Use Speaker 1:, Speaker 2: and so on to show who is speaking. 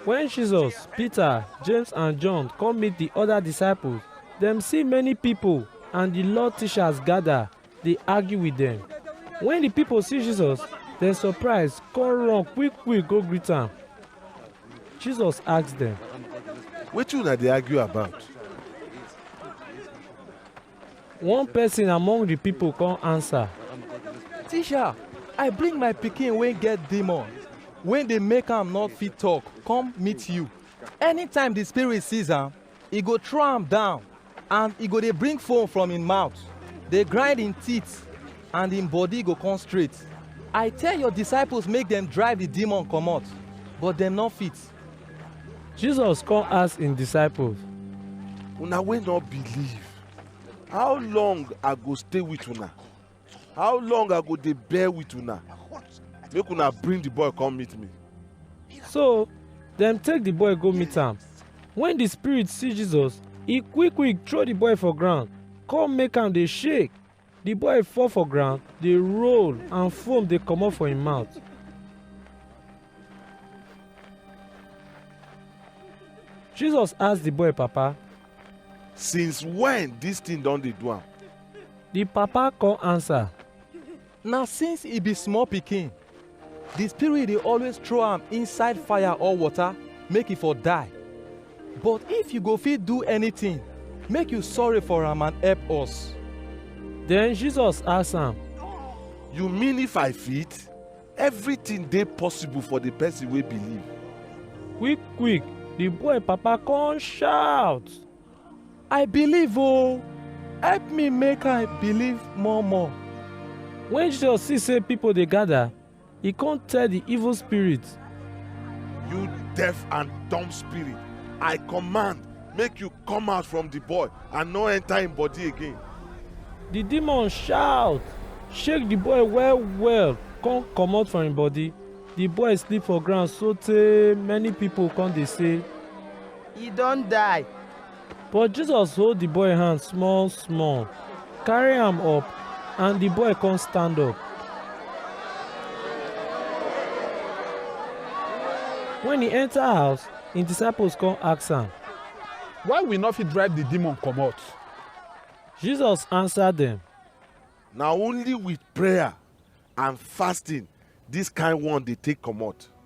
Speaker 1: Wen Jesus, Pita, Jems and Jon kom meet di oda disciples, dem si many pipol and di Law tishas gada dey argue wit dem. Wen di pipol si Jesus, dem sopraiz kon run kwik-kwik go grit am. Jesus ask dem. Wetin una dey argue about? One person among the people come answer. Teacher, I bring my pikin wey get demon, wey dey make am not fit talk, come meet you. Anytime the spirit sees am, e go throw am down and e go dey bring foam from im mouth, dey grind im teeth and im body go come straight. I tell your disciples make dem drive the demon comot, but dem no fit. Jesus come ask im disciples, una wey no believe how long i go stay with una how long i go dey bear with una make una bring the boy come meet me So dem take the boy go meet am. When the spirit see Jesus, e quick quick throw the boy for ground, come make am dey shake, Di boy fall for ground, dey roll and foam dey comot for im mouth. Jesus ask di boy papa. Since when dis thing don dey do am? Di papa come answer. Na since e be small pikin. Di spirit dey always throw am inside fire or water make e for die. But if you go fit do anytin, make you sorry for am and help us. Den Jesus ask am, You mean if I fit? Evritin dey possible for di pesin wey believe. Quick-quick, di boy papa kon shout. I believe oh, help me make I believe more more. When Jesus see say people dey gather, he come tell the evil spirit, You deaf and dumb spirit, I command, make you come out from the boy and no enter him body again. The demon shout, shake the boy well well, come comot from him body. The boy sleep for ground sotey many people come dey say, e don die. But Jesus hold the boy hand small small, carry am up, and the boy come stand up. When he enter house, him disciples come ask am. Why we no fit drive the demon comot? Jesus answer them. Na only with prayer and fasting this kind one dey take comot.